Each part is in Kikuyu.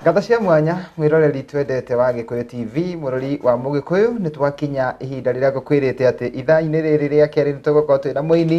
Ngatho cia mwanya mwiroreri twendete wa Gikuyu TV murori wa Mugikuyu nĩ twakinya ihinda rĩrĩa ngũkwĩrĩte atĩ ithaa-inĩ rĩrĩ rĩa kerĩ nĩ tũgũkorwo twĩna mũini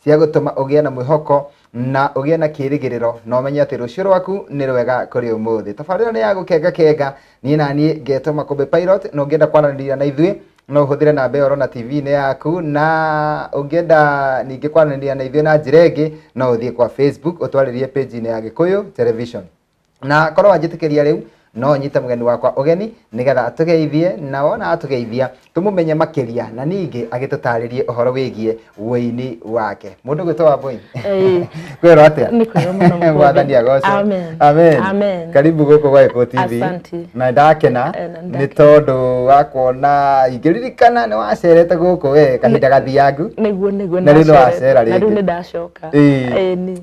cia gũtũma ũgĩe na mwĩhoko na ũgĩe na kĩĩrĩgĩrĩro na ũmenye atĩ rũciũ rwaku nĩ rwega kũrĩ ũmũthĩ tabarĩra nĩ ya gũkenga kenga niĩ na niĩ ngetwo makũmbĩ pilot na ũngĩenda kwaranĩria na ithuĩ no ũhũthĩre namba ĩyo ũrona tv-inĩ yaku na ũngĩenda ningĩ kwaranĩria na ithuĩ na njĩra ĩngĩ no ũthiĩ kwa facebook ũtwarĩrie page-inĩ ya gĩkũyũ television na korwo wanjĩtĩkĩria rĩu no nyite mũgeni wakwa ũgeni nĩgetha atũgeithie na wona atũgeithia tũmũmenye makĩria na ningĩ agĩtũtarĩrie ũhoro wĩgiĩ wũini wake mũndũ gwĩtwo wa bũini Ĩĩ. kwĩrwo atĩa Nĩ kwĩrwo mũno mũkũndũ. mwathani agoco Amen. amen Amen. karibu gũkũ gwa Eko TV Asante. na ndakena Eh, na nĩ ndakena. tondũ wa kuona ingĩririkana nĩ wacerete gũkũ we kahinda gathiangu nĩguo nĩguo Na rĩu nĩ ndacerete. wacera na rĩu rĩngĩ. nĩ ndacoka Ĩĩ. Ĩĩ, nĩ-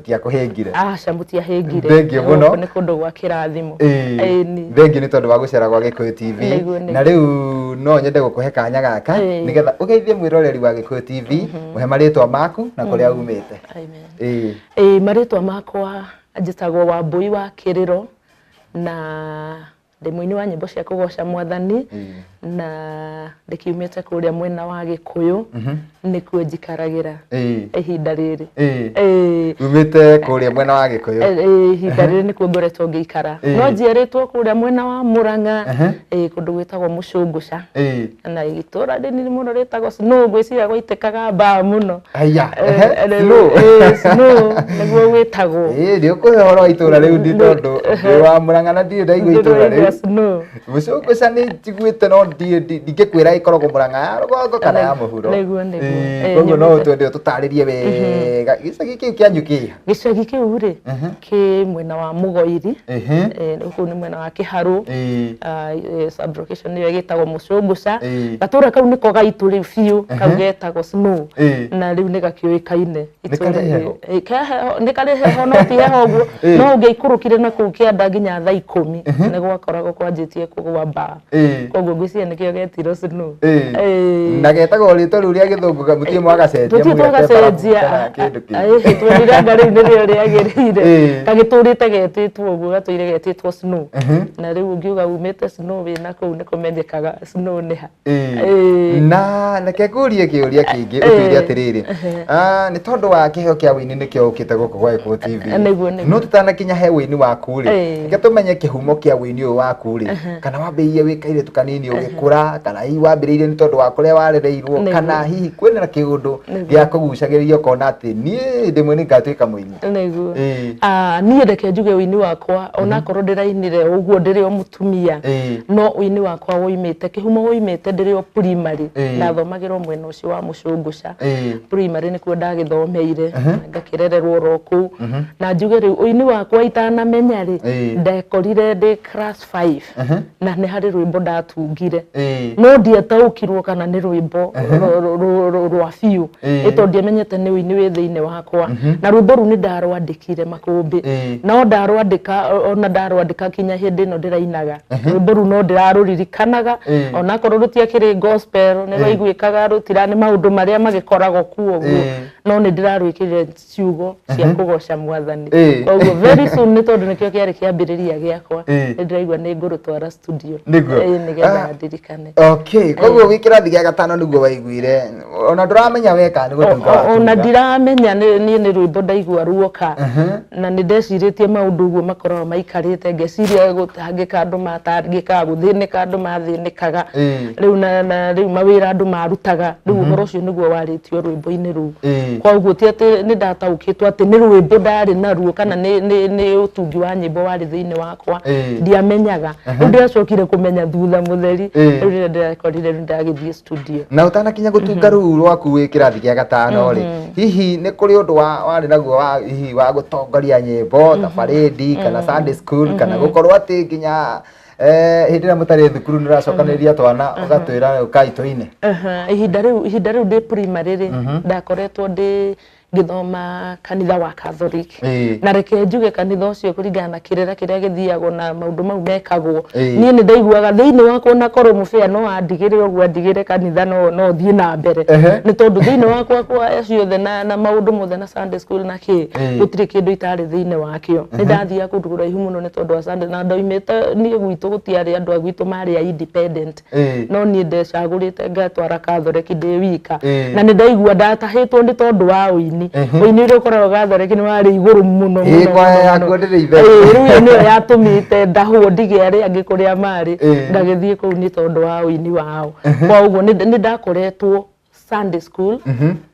tiakũhĩngire aca mũtiahĩngire Thengiũ mũno. Gũkũ nĩ kũndũ gwa kĩrathimo Ĩĩ, Ĩni. thengiũ nĩ tondũ wa gũcera gwa gĩkũyũ tv Nĩguo, nĩguo. na rĩu no nyende gũkũhe kanya gaka Ĩĩ. nĩgetha ũgeithie mwĩroreri wa gĩkũyũ tv mũhe marĩtwa maku na kũrĩa umĩte Amen. Ĩĩ. Ĩĩ, marĩtwa makwa njĩtagwo wambũi wa kĩrĩro na Ndĩ mũini wa nyĩmbo cia kũgoca mwathani na ndĩkiumĩte kũrĩa mwena wa gĩkũyũ nĩkuo njikaragira Ĩĩ. ihinda rĩrĩ Ĩĩ. Ĩĩ. umĩte kũrĩa mwena wa gĩkũyũ Eh, eh, ihinda rĩrĩ nĩkuo ngoretwo ngĩikara Eh. no njiarĩtwo kũrĩa mwena wa mũrang'a Ehe. eh, kũndũ gwĩtagwo mũcũngũca Ĩĩ. na itũra rĩnini mũno rĩtagwo snow ngwĩciria gwaitĩkaga mbaa mũno Aya, Eh, ehe, eh, snow. eh, snow nĩguo gwĩtagwo Ĩĩ, nĩ ũkũhe ũhoro wa itũra rĩu ndi tondũ ndĩ wa mũrang'a na ndirĩ ndaigua itũra Ndĩrĩ rĩu snow mũcũngũca nĩ njiguĩte no ndi- ndi- ndingĩkwĩra ĩkoragwo mũrang'a ya rũgongo kana ya mũhuro Nĩguo, nĩguo. Ĩĩ, Eh, koguo no nyumĩte. twende ũtũtarĩrie wega gĩcagi kĩu kĩanyu kĩha Gĩcagi kĩu rĩ Ehe. kĩ mwena wa Mũgoiri Ehe. eh, kũu nĩ mwena wa Kĩharũ Eh, Ah, eh, sub location nĩyo ĩgĩtagwo Mũcũngũca Eh. gatũra kau nĩko gaitũ rĩu biũ kau Ehe. getagwo Snow Eh. na rĩu nĩ gakiũĩkaine Nĩ karĩ heho? Eh, ke heho- nĩ karĩ heho no ti heho ũguo Eh. no ũngĩaikũrũkire na kũu kĩanda nginya thaa ikũmi nĩ gwakoragwo kwanjĩtie kũgwa mbaa Eh. koguo ngwĩciria nĩkĩo getirwo snow Eh. Eh. na getagwo rĩtwa rĩu rĩa gĩthũngũ ga- mũtiĩ mwagacenjia tũthiĩ mũgete barabu kana twagacenjia kĩndũ kĩngĩ. twonire anga rĩu nĩrĩo rĩagĩrĩire Eh. gagĩtũrĩte getĩtwo ũguo gatũire getĩtwo snow na rĩu ũngiuga umĩte snow wĩna kũu nĩ kũmenyekaga snow nĩ ha Eh. Eh. na reke ngũrie kĩũria kĩngĩ ũtwĩre atĩrĩrĩ Ah, nĩ tondũ wa kĩheo kĩa wĩini nĩkĩo ũkĩte gũkũ gwa Eko TV Eh, nĩguo, nĩguo. no tũtanakinya he wĩini waku rĩ Eh. reke tũmenye kĩhumo kĩa wĩini ũyũ waku rĩ kana wambĩrĩirie wĩ kairĩtu kanini ũgĩkũra kana hihi wambĩrĩirie nĩ tondũ wa kũrĩa warereirwo Nĩguo. kana hihi kwĩna na kĩũndũ Nĩguo. gĩa kũgucagĩrĩria ũkona atĩ niĩ hĩndĩ ĩmwe nĩ ngatuĩka mũini nĩguo Ĩĩ. Ah, niĩ reke njuge ũini wakwa onakorwo ndĩrainire ũguo ndĩrĩ o mũtumia Ĩĩ. no ũini wakwa woimĩte kĩhumo woimĩte ndĩrĩ o primary Ĩĩ. ndathomagĩrwo mwena ũcio wa mũcũngũca Ĩĩ. primary nĩkuo ndagĩthomeire ngakĩrererwo oro kũu na njuge rĩu ũini wakwa itanamenya rĩ Ĩĩ. ndekorire ndĩ class 5 Ehe. na nĩ harĩ rwĩmbo ndatungire Eh. no ndiataũkirwo kana nĩ rwĩmbo rũ- rũ- rũ- rũ- rwa biũ Eh. ĩto ndiamenyete nĩ ũini wĩ thĩinĩ wakwa na rwĩmbo rũu nĩ ndarwandĩkire makũmbĩ Eh. no ndarwandĩka o- ona ndarwandĩka kinya hĩndĩ ĩno ndĩrainaga rwĩmbo rũu no ndĩrarũririkanaga Eh. onakorwo rũtiakĩrĩ gospel nĩ rwaiguĩkaga rũtira nĩ maũndũ marĩa magĩkoragwo kuo ũguo Eh. no nĩ ndĩrarwĩkĩrire ciugo cia kũgoca mwathani Eh. koguo very soon nĩ tondũ nĩkĩo kĩarĩ kĩambĩrĩria gĩakwa Eh. nĩ ndĩraigua nĩ ngũrũtwara studio Nĩguo. Eh, nĩgetha Ah. ndirikane okay koguo wĩ kĩrathi gĩa gatano nĩguo waiguire ona ndũramenya weka nĩ gũtuĩka O- o- ona watuĩka. ndiramenya nĩ- niĩ nĩ rwĩmbo ndaigua ruoka na nĩ ndecirĩtie maũndũ ũguo makoragwo maikarĩte ngeciria gũ- gũtangĩka andũ matangĩkaga gũthĩnĩka andũ mathĩnĩkaga Ĩĩ. rĩu na, na rĩu mawĩra andũ marutaga rĩu ũhoro ũcio nĩguo warĩtio rwĩmbo-inĩ rũu Ĩĩ. koguo ti atĩ nĩ ndataũkĩtwo atĩ nĩ rwĩmbo ndarĩ naruo kana nĩ, nĩ, nĩ ũtungi wa nyĩmbo warĩ thĩinĩ wakwa Ĩĩ. ndiamenyaga rĩu ndĩracokire kũmenya thutha mũtheri Ĩĩ. rĩu rĩrĩa ndĩrakorire rĩu ndagĩthiĩ Studio. na ũtanakinya gũtunga rũu rwaku wĩ kĩrathi gĩa gatano rĩ hihi nĩ kũrĩ ũndũ wa- warĩ naguo wa hihi wa gũtongoria nyĩmbo ta barĩndi kana Sunday school kana gũkorwo atĩ nginya eh, hĩndĩ ĩrĩa mũtarĩ thukuru nĩ ũracokanĩrĩria twana ũgatwĩra ũkai tũine Aha, ihinda rĩu ihinda rĩu ndĩ primary rĩ ndakoretwo ndĩ ngĩthoma kanitha wa Catholic Ĩĩ. na reke njuge kanitha ũcio kũringana na kĩrĩra kĩrĩa gĩthiagwo na maũndũ mau mekagwo Ĩĩ. niĩ nĩ ndaiguaga thĩinĩ wakwa ona korwo mũbĩa no andigĩre ũguo andigĩre kanitha no no thiĩ na mbere Ehe. nĩ tondũ thĩinĩ wakwa kwa ciothe na, na maũndũ mothe na Sunday school na kĩ Ĩĩ. gũtirĩ kĩndũ itarĩ thĩinĩ wakĩo nĩ ndathiaga kũndũ kũraihu mũno nĩ tondũ wa Sunday na ndoimĩte niĩ gwitũ gũtiarĩ andũ a gwitũ marĩ a independent Eh. no niĩ ndecagũrĩte ngatwara kathoreki ndĩ wika Eh. na nĩ ndaigua ndatahĩtwo nĩ tondũ wa ũini Mhm. ũini ũrĩa ũkoragwo gathoreki nĩ warĩ igũrũ mũno Eh, mũno, kwaya mũno, yaku mũno. ndĩrĩ itherũ. Eh, rĩu ĩyo nĩyo yatũmĩte ndahwo ndige arĩa angĩ kũrĩa marĩ Eh. ndagĩthiĩ kũu nĩ tondũ wa ũini wao kwa ũguo nĩ nĩ ndakoretwo Sunday school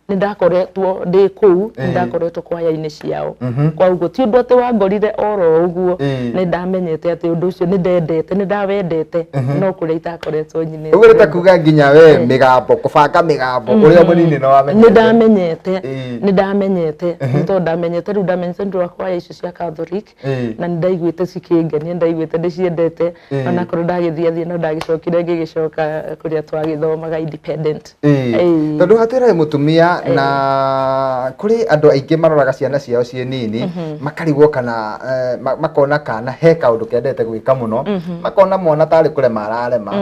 nĩ ndakoretwo ndĩ kũu nĩ ndakoretwo kwaya-inĩ ciao koguo ti ũndũ atĩ wangorire oro ũguo Ĩĩ. nĩ ndamenyete atĩ ũndũ ũcio nĩ ndendete nĩ ndawendete no kũrĩa itakoretwo nyinĩte ũguo nĩ ta kuga nginya we mĩgambo kũbanga mĩgambo ũrĩa mũnini nĩ wamenyete nĩ ndamenyete Ĩĩ. nĩ ndamenyete nĩ tondũ ndamenyete rĩu ndamenyete nĩ ũndũ wa kwaya icio cia Catholic Ĩĩ. na nĩ ndaiguĩte cikĩngenia ndaiguĩte ndĩciendete Ĩĩ. onakorwo ndagĩthiĩ athiĩ no ndagĩcokire ngĩgĩcoka kũrĩa twagĩthomaga independent Ĩĩ. Ĩĩ. tondå hatwä he må tumia na kå rä andå aingä maroraga ciana ciao ciä nini makarigwo kana eh, ma- makona kana he kaå ndå kendete gwä ka må no makona mwana tarä kå rema ararema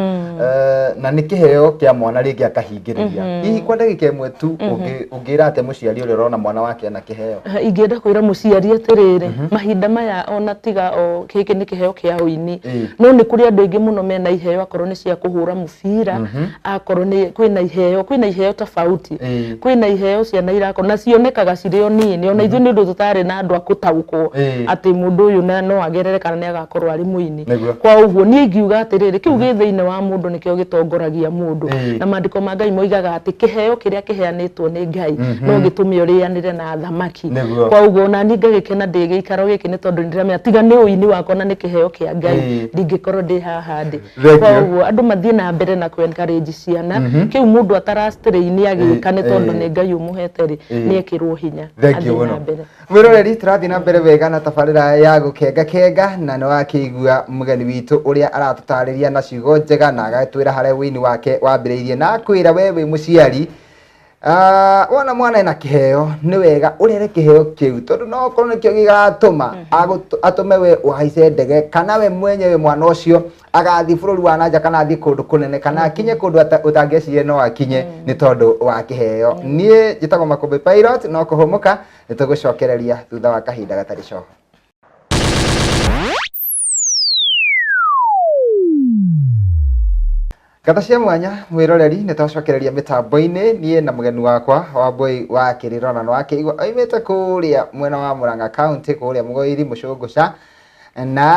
Eh, na nä kä heo kä a mwana rä ngä akahingä rä ria hihi kwa ndagä ka ä mwe tu å ngä Ũngĩra atĩa mũciari ũrĩa ũrona mwana wake ena kĩheo? Eh, ingĩenda kwĩra mũciari atĩrĩrĩ mhm. mahinda maya ona tiga o gĩkĩ nĩ kĩheo kĩa ũini no nĩ kũrĩ andũ aingĩ mũno mena iheo akorwo nĩ cia kũhũra mũbira mhm. akorwo nĩ kwĩna iheo kwĩna iheo tofauti kwĩna iheo ciana irakorwo na cionekaga cirĩ o nini ona ithuĩ mhm. nĩ ũndũ tũtarĩ na andũ a gũtaũkwo atĩ mũndũ ũyũ no agerere kana nĩ agakorwo arĩ mũini thĩ Nĩguo. kwa ũguo niĩ ingiuga atĩrĩrĩ kĩu gĩ thĩinĩ wa mũndũ nĩkĩo gĩtongoragia mũndũ Ĩĩ. na maandĩko ma ngai moigaga atĩ kĩheo kĩrĩa kĩheanĩtwo nĩ ngai no gĩtũme ũrĩanĩre na thamaki Nĩguo. kwa ũguo nani ngagĩkena ndĩ gĩikaro gĩkĩ nĩ tondũ nĩndĩramenya tiga nĩ ũini wakwa na nĩ kĩheo kĩa ngai Ĩĩ. ndingĩkorwo ndĩ haha ndĩ Thengiũ. kwa ũguo andũ mathiĩ na mbere na kũ encourage ciana kĩu mũndũ atarastrain agĩka nĩ tondũ Ĩĩ. nĩ ngai ũmũhete rĩ Ĩĩ. nĩ ekĩrwo hinya Thengiũ athiĩ mũno. na mbere Mwĩroreri, tũrathiĩ na mbere wega na tabarĩra ya gũkenga kenga na nĩ wakĩigua mũgeni witũ ũrĩa aratũtarĩria na ciugo njega na agatwĩra harĩa wĩini wake wambĩrĩirie na akwĩra we wĩ mũciari ah, wona mwana ena kĩheo nĩ wega ũrere kĩheo kĩu tondũ no okorwo nĩkĩo gĩgatũma agũt- atũme we ũhaice ndege kana we mwenyewe mwana ũcio agathiĩ bũrũri wa nanja kana athiĩ kũndũ kũnene kana akinye kũndũ ata- ũtangĩecirie no akinye nĩ tondũ wa kĩheo niĩ njĩtagwo makũmbĩ pilot no kũhũmũka nĩ tũgũcokereria thutha wa kahinda gatarĩ coho Ngata cia mwanya mwĩroreri, nĩ twacokereria mĩtambo-inĩ niĩ na mũgeni wakwa Wambũi wa Kĩrirũ, na nĩ wakĩigua oimĩte kũrĩa mwena wa Mũrang'a County kũrĩa Mũgoiri Mũcũngũca na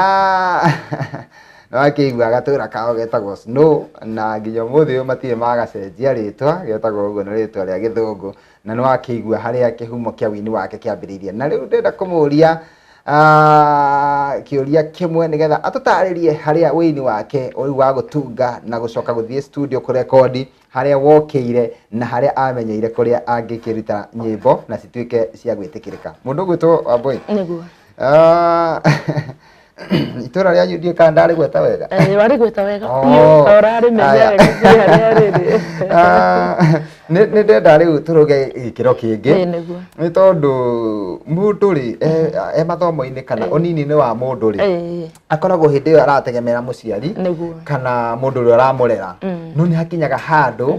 nĩ wakĩigua gatũra kao getagwo Snow na nginya ũmũthĩ ũyũ matirĩ magacenjia rĩtwa, getagwo ũguo nĩ rĩtwa rĩa gĩthũngũ. Na nĩ wakĩigua harĩa kĩhumo kĩa wini wake kĩambĩrĩirie. Na rĩu ndĩrenda kũmũria kĩũria kĩmwe nĩgetha atũtarĩrie harĩa wĩini wake ũyũ wa gũtunga na gũcoka gũthiĩ studio kũrekondi harĩa wokĩire na harĩa amenyeire kũrĩa angĩkĩruta nyĩmbo na cituĩke cia gwĩtĩkĩrĩka. Mũndũ ũgwĩtwo Wambũi. Nĩguo. itũra rĩanyu ndiĩ kana ndarĩgweta wega Eh, warĩgweta wega Oh. biũ ta ũrarĩmenya Aya. wega biũ harĩa rĩrĩ Ah, nĩ nĩ ndenda rĩu tũrũge gĩkĩro kĩngĩ Ĩĩ, nĩguo. nĩ tondũ mũndũ rĩ e- e mathomo-inĩ kana ũnini-inĩ wa mũndũ rĩ Ĩĩ, akoragwo hĩndĩ ĩyo arategemera mũciari nĩguo kana mũndũ ũrĩa ũramũrera Mm. no nĩ hakinyaga handũ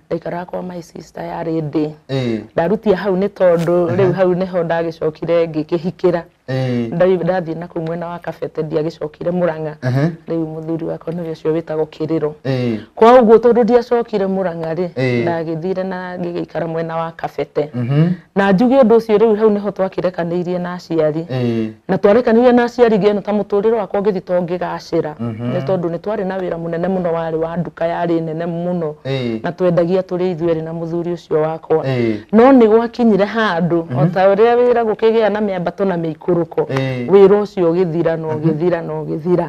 ndaikaraga kwa my sister yarĩ ndĩ ĩĩ ndarutia hau nĩ tondũ rĩu hau nĩho ndagĩcokire ngĩkĩhikĩra ĩĩ Nda- ndathiĩ na kũu mwena wa kabete ndiagĩcokire mũrang'a ehe rĩu mũthuri wakwa nĩwe ũcio wĩtagwo kĩrĩro ĩĩ kwa ũguo tondũ ndiacokire mũrang'a rĩ Ĩĩ. ndagĩthire na ngĩgĩikara mwena wa kabete mhm na njuge ũndũ ũcio rĩu hau nĩho twakĩrekanĩirie na aciari eh. na twarekanĩirie na aciari ngĩona ta mũtũrĩre wakwa ũngĩthi to ngĩgacĩra mhm. nĩ tondũ nĩ twarĩ na wĩra mũnene mũno warĩ wa nduka yarĩ nene mũno eh. na twendagia tũrĩ ithuerĩ na mũthuri ũcio wakwa eh. no nĩ gwakinyire handũ o mhm. ta ũrĩa wĩra gũkĩgĩa na mĩambato na mĩikũrũko wĩra ũcio ũgĩthira na mhm. ũgĩthira na ũgĩthira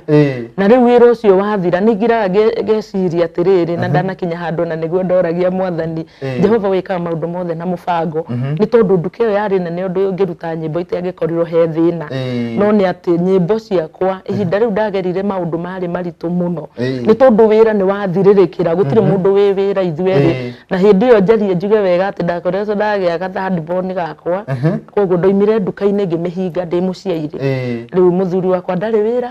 na rĩu wĩra ũcio wathira nĩ ngiraga ngeciria atĩrĩrĩ na ndanakinya handũ na nĩguo ndoragia mwathani Eh. jehova wĩkaga maũndũ mothe na mũbango nĩ tondũ nduka ĩyo yarĩ nene ũndũ ũngĩruta nyĩmbo itangĩkorirwo he thĩna Eh. no nĩ atĩ nyĩmbo ciakwa ihinda rĩu ndagerire maũndũ marĩ maritũ mũno Eh. nĩ tondũ wĩra nĩ wathirĩrĩkĩra gũtirĩ mũndũ wĩ wĩra ithuerĩ Eh. na hĩndĩ ĩyo njarie njuge wega atĩ ndakoretwo ndagĩa gathadbon gakwa koguo ndoimire nduka-inĩ ngĩmĩhinga ndĩ mũciairĩ Eh. rĩu mũthuri wakwa ndarĩ wĩra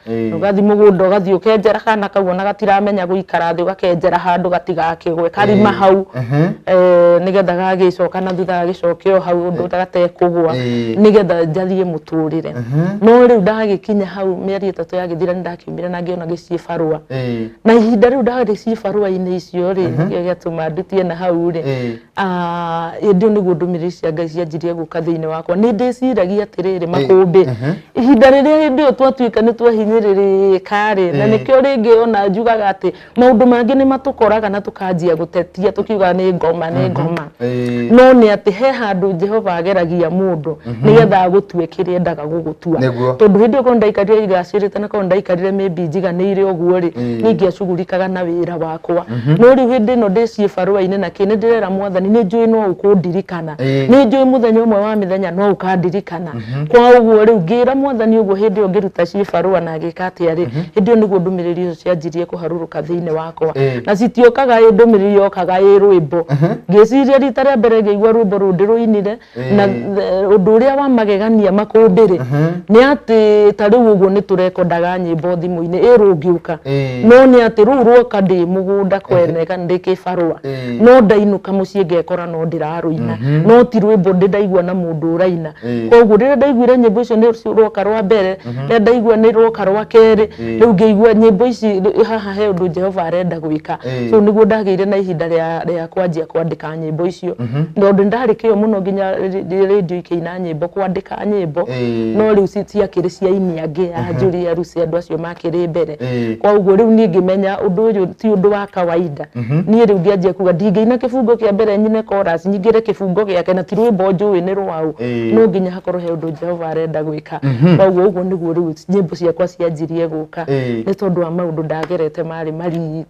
Eh. ugathiĩ mũgũnda ũgathiĩ ũkenjera kana kau ona gatiramenya gũikara thĩ ũgakenjera handũ gatigakĩgwe karima Eh. hau Ehe. Eh, nĩgetha gagĩcoka na thutha gagĩcoke o hau ũndũ gatekũgwa Eh. nĩgetha njathiĩ mũtũrĩre no rĩu ndagĩkinya hau mĩeri ĩtatũ yagĩthira nĩ ndakiumire na ngĩona gĩciĩ barũa Eh. na ihinda rĩu ndarĩ ciĩ barũa-inĩ icio rĩ nĩkĩo gĩatũma ndutie na hau rĩ Eh. Ah, hĩndĩ ĩyo nĩguo ndũmĩrĩri cia ngai cianjirie gũka thĩinĩ wakwa nĩ ndĩciragia atĩrĩrĩ makũmbĩ mhm. ihinda rĩrĩa hĩndĩ ĩyo twatuĩka nĩ twahinyĩrĩrĩka rĩ na nĩkĩo rĩngĩ ona njugaga atĩ maũndũ mangĩ nĩ matũkoraga na tũkanjia gũtetia tũkiuga nĩ ngoma nĩ mhm. ngoma no nĩ atĩ he handũ jehova ageragia mũndũ mhm. nĩgetha agũtue kĩrĩa endaga gũgũtua tondũ hĩndĩ ĩyo korwo ndaikarire igacĩrĩte na korwo ndaikarire maybe njiganĩire ũguo rĩ ningĩ acugurikaga na wĩra wa yakwa no rĩu hĩndĩ ĩno ndĩciĩ barũa-inĩ na kĩ nĩ ndĩrera mwathani nĩ njũĩ no ũkũndirikana Ĩĩ. nĩ njũĩ mũthenya ũmwe wa mĩthenya no ũkandirikana kwa ũguo rĩu ngĩra mwathani ũguo hĩndĩ ĩyo ngĩruta ciĩ barũa na ngĩka atĩa rĩ hĩndĩ ĩyo nĩguo ndũmĩrĩri ũcio cianjirie kũharũrũka thĩinĩ wakwa Ĩĩ. na citiokaga ĩ ndũmĩrĩri yokaga ĩ rwĩmbo ngĩciria rita rĩa mbere ngĩigua rwĩmbo rũu ndĩrũinire na eh, ũndũ ũrĩa wa magegania makũmbĩ rĩ nĩ atĩ ta rĩu ũguo nĩ tũrekondaga nyĩmbo thimũ-inĩ ĩ rũngĩũka Eh. no nĩ atĩ rũu rwoka ndĩ mũgũnda kwene kana ndĩ kĩbarũa Eh. no ndainũka mũciĩ ngekora no ndĩrarũina no ti rwĩmbo ndĩ ndaigua na mũndũ ũraina Eh. koguo rĩrĩa ndaiguire nyĩmbo icio nĩ rwoka rwa mbere rĩrĩa ndaigua nĩ rwoka rwa kerĩ Eh. rĩu ngĩigua nyĩmbo ici rĩ- haha he ũndũ jehova arenda gwĩka Eh. so nĩguo ndagĩire na ihinda rĩa rĩa kwanjia kwandĩka na nyĩmbo icio tondũ nĩ ndarĩ kĩo mũno nginya rĩ- rĩ- rĩndiũ ikĩina nyĩmbo kwandĩka nyĩmbo Ĩĩ. no rĩu ci- ciakĩrĩ cia ini angĩ a njũri ya rusi andũ acio makĩrĩ mbere Ĩĩ. koguo rĩu niĩ ngĩmenya ũndũ ũyũ ti ũndũ wa kawaida niĩ rĩu ngĩanjia kuga ndingĩina kĩbungo kĩa mbere nyine chorus nyingĩre kĩbungo gĩake na ti rwĩmbo njũĩ nĩ rwaũ Ĩĩ. no nginya hakorwo he ũndũ jehova arenda gwĩka koguo ũguo nĩguo rĩu nyĩmbo ciakwa cianjirie gũka Ĩĩ. nĩ tondũ wa maũndũ ndagerete marĩ maritũ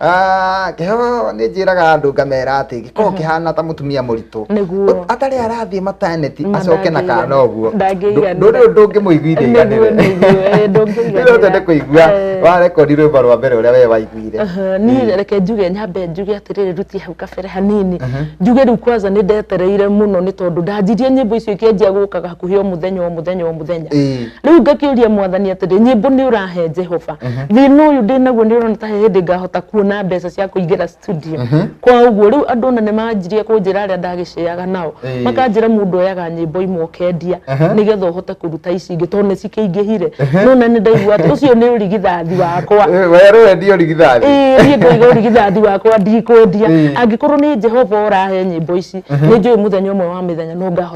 Ah, kĩheo nĩ njĩraga andũ ngamera atĩ gĩkoragwo kĩhana ta mũtumia mũritũ Nĩguo. atarĩ arathiĩ mataneti Na acoke na ndangĩigana. kana ũguo Ndangĩiganĩra. ndũrĩ ũndũ ũngĩmũiguithia Nĩguo, iganĩre nĩguo, eh, ndũngĩiganĩra. rĩu twende kũigua Eh. wa rekondi rwĩmbo rwa mbere ũrĩa we waiguire Aha, niĩ reke njuge nyambe njuge atĩrĩrĩ ruti hau kabere hanini njuge rĩu kwanza nĩ ndetereire mũno nĩ tondũ ndanjirie nyĩmbo icio ikĩanjia gũkaga hakuhĩ o mũthenya o mũthenya o mũthenya Ĩĩ. rĩu ngakĩũria mwathani atĩrĩ nyĩmbo nĩ ũrahe jehova thĩna ũyũ ndĩ naguo nĩ ũrona ta he hĩndĩ ngahota kuona mbeca cia kũingĩra studio kwa ũguo rĩu andũ ona nĩ manjirie kũnjĩra arĩa ndagĩceaga nao Ĩĩ. makanjĩra mũndũ oyaga nyĩmbo imwe ũkendia nĩgetha ũhote kũruta ici ingĩ tondũ nĩ cikĩingĩhire no na nĩ ndaigua atĩ ũcio nĩ ũrigithathi wakwa werũ wendio rigithathi Ĩĩ, niĩ ngoiga ũrigithathi wakwa ndikwendia Ĩĩ. angĩkorwo nĩ jehova ũrahe nyĩmbo ici nĩ njũĩ mũthenya ũmwe wa mĩthenya no ngahota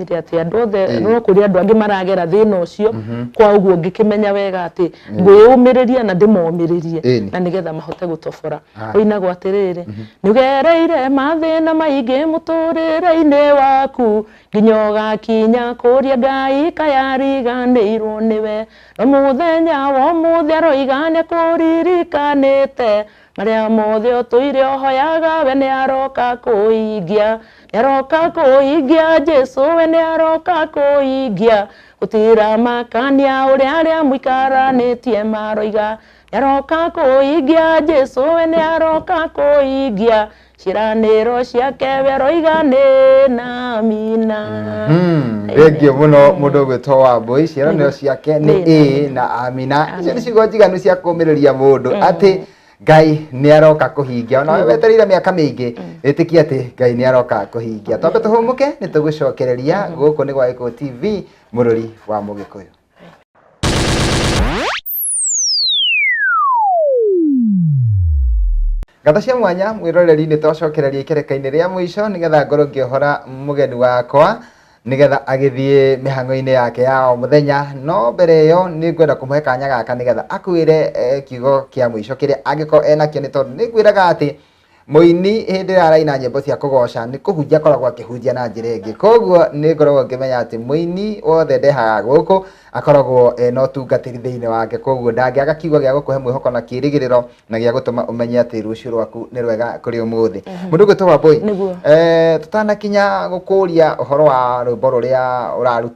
ndĩreciria atĩ andũ othe Ĩĩ. no kũrĩ andũ angĩ maragera thĩna ũcio kwa ũguo ngĩkĩmenya wega atĩ ngwĩyũmĩrĩria na ndĩmomĩrĩrie Ĩni. na nĩgetha mahote gũtobora Aye. ũinagwo atĩrĩrĩ nĩũgereire mathĩna maingĩ mũtũrĩre-inĩ waku nginya ũgakinya kũria ngai kayariganĩirwo nĩwe no mũthenya wa ũmũthĩ aroiga nĩkũririkanĩte Marĩa mothe ũtũire ũhoyaga we nĩ aroka kũhingia nĩ aroka kũhingia Jesu we nĩ aroka kũhingia gũtira makania ũrĩa arĩa mũikaranĩtie maroiga nĩ aroka kũhingia Jesu we nĩ aroka kũhingia ciranĩro ciake we roiga nĩ na mina Hmm, thengiũ mũno mũndũ ũgwĩtwo wambũi ciĩranĩro ciake nĩ Nĩ. ĩĩ na amina icio Amen. nĩ ciugo njiganu cia kũmĩrĩria mũndũ atĩ ngai nĩ aroka kũhingia ona we wetereire mĩaka mĩingĩ ĩtĩkia atĩ ngai nĩ aroka kũhingia twambe tũhũmũke nĩ tũgũcokereria gũkũ nĩ gwa gĩkũ tv mũrũri wa mũgĩkũyũ Ngatho cia mwanya mwĩroreri nĩ twacokereria ikereka-inĩ rĩa mũico nĩgetha ngorwo ngĩohora mũgeni wakwa nĩgetha agĩthiĩ mĩhang'o-inĩ yake ya o mũthenya no mbere ĩyo nĩ ngwenda kũmũhe kanya gaka nĩgetha akwĩre eh, kiugo kĩa mũico kĩrĩa angĩkorwo enakĩo nĩ tondũ nĩ ngwĩraga atĩ Mũini hĩndĩ ĩrĩa araina nyĩmbo cia kũgoca nĩ kũhunjia akoragwo akĩhunjia na njĩra ĩngĩ. Koguo nĩ ngoragwo ngĩmenya atĩ mũini wothe ndehaga gũkũ akoragwo ena ũtungatĩri thĩinĩ wake. Koguo ndangĩaga kiugo gĩa gũkũhe mwĩhoko na kĩĩrĩgĩrĩro na gĩa gũtũma ũmenye atĩ rũciũ rwaku nĩ rwega kũrĩ ũmũthĩ. Mũndũ ũgwĩtwo Wambũi, tũtanakinya gũkũria ũhoro wa rwĩmbo rũrĩa ũraruta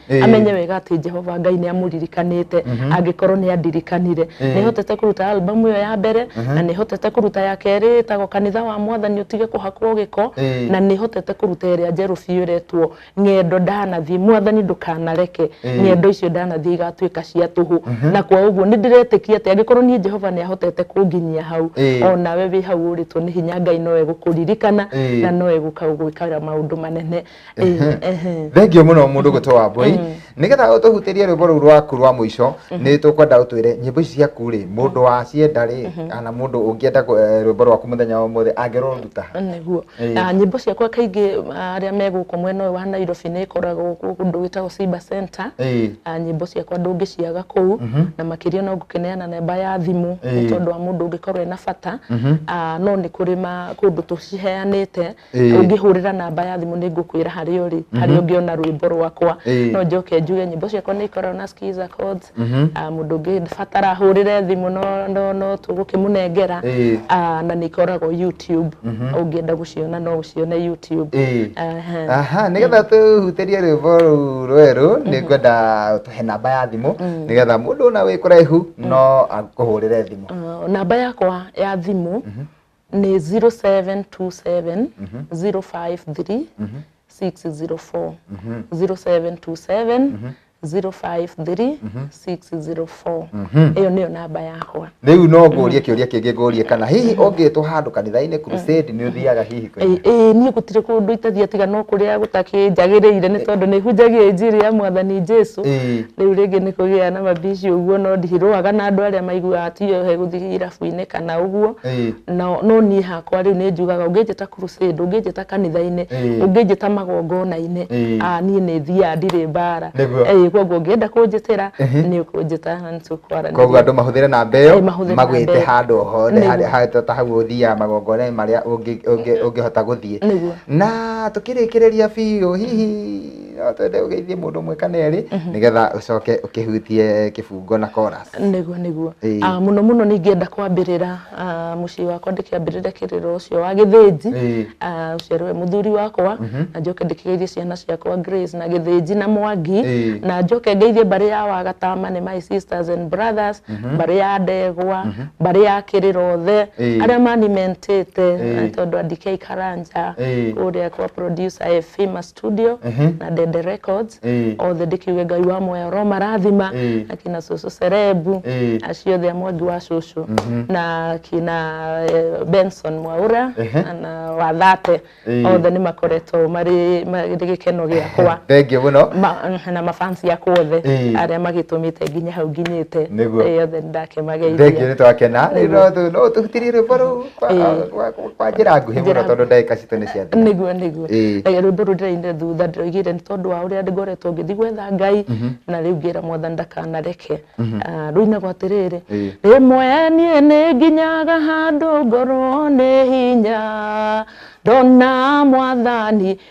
Ĩĩ. amenye wega atĩ jehova ngai nĩ amũririkanĩte angĩkorwo nĩ andirikanire Ĩĩ. nĩ hotete kũruta albamu ĩyo ya mbere na nĩ hotete kũruta ya kerĩ ĩtagwo kanitha wa mwathani ũtige kũhakwo gĩko Ĩĩ. na nĩ hotete kũruta ĩrĩa njerũ biũ ĩretwo ng'endo ndanathiĩ mwathani ndũkanareke Ĩĩ. ng'endo icio ndanathiĩ igatuĩka cia tũhũ na kwa ũguo nĩ ndĩretĩkia atĩ angĩkorwo niĩ jehova nĩ ahotete kũnginyia hau Ĩĩ. o nawe wĩ hau ũrĩtwo nĩ hinya ngai no egũkũririkana Ĩĩ. na no egũka gũgwĩkara maũndũ manene thengiå må no må ndå gå tå wa mbåi nä getha å tå hutä rie rwä mbo rå u rwaku rwa må ico nä tå kwenda å twä re nyä mbo ici ciaku rä må ndå wacienda rä kana må ndå å ngä enda rwä mbo rwaku må thenya wa å må thä angä rå ruta ha nĩguo Ĩĩ. Na nyĩmbo ciakwa kaingĩ arĩa me gũkũ mwena ũyũ wa nairobi nĩ ĩkoragwo kũ- kũndũ gwĩtagwo cyber center Ĩĩ. Ah, nyĩmbo ciakwa ndũngĩciaga kũu na makĩria no ngũkĩneana namba ya thimũ nĩ Ĩĩ. tondũ wa mũndũ ũngĩkorwo ena bata Ah, no nĩ kũrĩ ma- kũndũ tũciheanĩte Ĩĩ. ũngĩhũrĩra namba ya thimũ nĩ ngũkwĩra harĩa ũrĩ harĩa ũngĩona rwĩmbo rwakwa Ĩĩ. no njoke njuge nyĩmbo ciakwa nĩ ikoragwo na skiza codes Ah, mũndũ ũngĩbatara hũrĩre thimũ no- no- no tũgũkĩmũnengera Ĩĩ. Ah, na nĩ ikoragwo youtube ũngĩenda gũciona no ũcione youtube Ĩĩ. Aha. aha nigetha tũhutĩrie rwĩmbo rũu rwerũ nĩ ngwenda tũhe namba ya thimũ nigetha mũndũ ona wĩ kũraihu no akũhũrĩre thimũ Ah, namba yakwa ya thimũ nĩ 0727 053 604 0727 053 604 ĩyo nĩyo namba yakwa rä u no ngå rie kä å ria kä ngä ngå rie kana hihi å ngä two handå kanitha-inä nä å thiaga hihi Ĩ- kwä ĩ, niĩ gũtirĩ kũndũ itathiĩ tiga no kũrĩa gũtakĩnjagĩrĩire nĩ tondũ nĩ hunjagia injiri ya mwathani jesu Ĩ. rĩu rĩngĩ nĩ kũgĩa na mabici ũguo no ndirũaga na andũ arĩa maiguaga tiyo he gũthiĩra gĩcũa-inĩ kana ũguo Ĩĩ. no no niĩ hakwa rĩu nĩ njugaga ũngĩnjĩta crusade ũngĩnjĩta kanitha-inĩ Ĩĩ. ũngĩnjĩta magongona-inĩ Ĩĩ. ah, niĩ nĩ thiaga ndirĩ mbara Nĩguo. Ĩĩ, koguo ũngĩenda kũnjĩtĩra Ehe. nĩ ũkũnjĩta na nĩ tũkwaranĩria koguo andå mahå thä re namba ä Ĩĩ, mahũthĩre yo namba magwä te ĩyo. handå o hothe Nĩguo. harĩa- harĩa ta hau å thiaga magongona marä a å ngä hota gå thiä Nĩguo. na tå kä rä kä rä ria biå hihi no twende ũgeithie mũndũ ũmwe kana erĩ nĩgetha ũcoke ũkĩhutie kĩbungo na chorus nĩguo nĩguo Ĩĩ. Ah, mũno mũno nĩ ingĩenda kwambĩrĩra ah, mũciĩ wakwa ndĩkĩambĩrĩre kĩrĩro ũcio wa gĩthĩnji Ĩĩ. Ah, ũcio we mũthuri wakwa na njoke ndĩkĩgeithie ciana ciakwa Grace na gĩthĩnji na mwangi Ĩĩ. na njoke ngeithie mbarĩ ya wagatama nĩ my sisters and brothers mbarĩ ya ndegwa mbarĩ ya kĩrĩrothe Ĩĩ. arĩa manimentĩte Ĩĩ. tondũ andikei karanja Ĩĩ. kũrĩa kwa producer Efimas studio Ehe. na Dede Records Eh. othe ndĩkiuge ngai wa moya oro marathima Eh. na kina cũcũ Serebu Eh. acio othe a mwangi wa cũcũ na kina eh, Benson Mwaura Ehe. na- na Wathate Eh. othe nĩ makoretwo marĩ marĩ gĩkeno gĩakwa thengiũ mũno Ma- na mafansi yakwa othe Eh. arĩa magĩtũmĩte nginya hau nginyĩte Nĩguo. Eh, othe nĩ ndakenageithia thengiũ nĩ twakena Nĩguo. no tũhutirie rwĩmbo rũu kwa njĩra nguhĩ mũno tondũ ndagĩka citũ nĩ cia nĩguo nĩguo rwĩmbo rũu ndĩrainire thutha ndĩraigire nĩ tondũ wa ũrĩa ngoretwo ngĩthiĩ gwetha ngai mhm. na rĩu ngĩra mwathani ndakanareke mhm. ah, rũinagwo atĩrĩrĩ rĩmwe niĩ nĩ nginyaga handũ ngorwo nĩ hinya ndona mwathani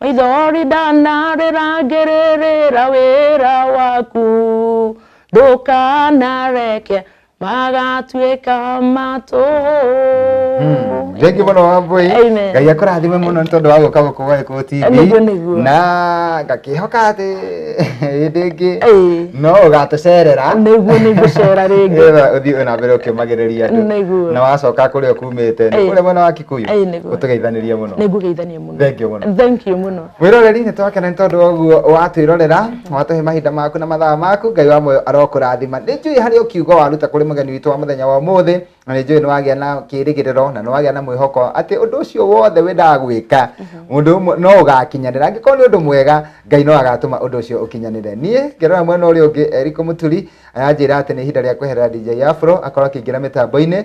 Maithori ndanarĩrangĩrĩrĩra wĩra waku ndũkanareke magatuĩka matũ Mm. Thank you mũno Wambui. Amen. Ngai akũrathime mũno nĩ tondũ wa gũka gũkũ gwa Gĩkũyũ TV. Nĩguo, nĩguo. Na ngakĩhoka atĩ hĩndĩ ĩngĩ Ĩĩ. no ũgatũcerera. nĩguo nĩngũcera rĩngĩ Nĩgetha ũthiĩ ona mbere ũkĩmagĩrĩria andũ. Nĩguo. Na wacoka kũrĩa ũkumĩte nĩ Ĩĩ. kũrĩa mwena wa Kikuyu. Ĩĩ, nĩguo. Ũtũgeithanĩrie mũno. nĩngũgeithania Thank you mũno. Thank you mũno. Mwĩroreri nĩ twakena nĩ tondũ wa ũguo watwĩrorera watũhe mahinda maku na mathaa maku Ngai wa muoyo arokũrathima. Nĩ njũĩ harĩ o kiugo waruta kũrĩ mũgeni witũ wa mũthenya wa ũmũthĩ na nĩ njũĩ nĩ wagĩa na kĩĩrĩgĩrĩro na nĩ wagĩa na mwĩhoko atĩ ũndũ ũcio wothe wendaga gwĩka ũndũ ũmwe no ũgakinyanĩra. Angĩkorwo nĩ ũndũ mwega Ngai no agatũma ũndũ ũcio ũkinyanĩre. Niĩ ngĩrora mwena ũrĩa ũngĩ Eric Mũturi aranjĩra atĩ nĩ ihinda rĩa kweherera DJ Afro akorwo akĩingĩra mĩtambo-inĩ